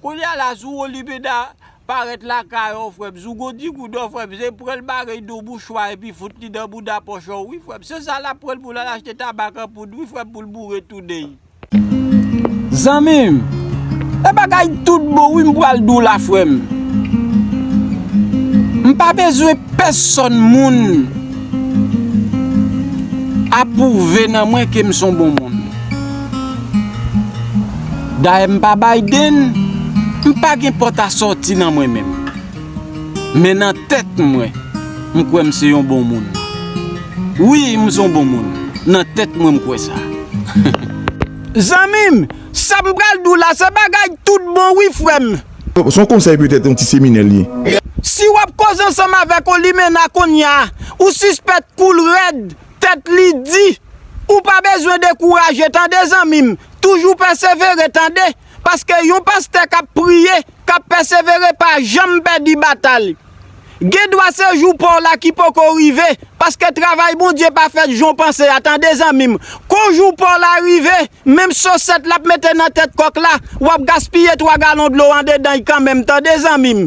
Kounya la Zougo Libeda parèt lakay ou frèm Zougo di kou dò frèm se pranl bagay do bouch wa epi fout li nan mouda pòch ou wi frèm se sa lap pranl poul al achte tabak an poud wi frèm poul boure tounen'y. Zanmim E bagay tout bon wi m pral di w la frè m M pa bezwen pèsòn moun apwouve nan mwen ke m s on bon moun. Dayè m pa Biden, m pa gen pòt a sòti nan mwen menm. Men nan tèt mwen, m kwè m se yon bon moun. Wi, m se yon bon moun. Nan tèt mwen m kwè sa. Zanmi m, sa m pral di w la se bagay tout bon wi frè m. Se yon konsèy petèt yon ti seminè l ye. Si w ap koze ansanm avèk yon limena kounye a, ou sispèk kou l rèd Tèt li di. Ou pa bezwen dekouraje tande zanmi m, toujou pèsevere tande, paske yon pastè k ap priye, k ap pèsevere pa janm pèdi batay. Gen dwa se jou pa w la ki poko rive, paske travay Bondye pa fèt jan w panse a tande zanmi m. Kon jou pa w la rive, menm sosèt l ap mete nan tèt kòk la, w ap gaspiye twa galon dlo andedan y kanmenm tande zanmi m.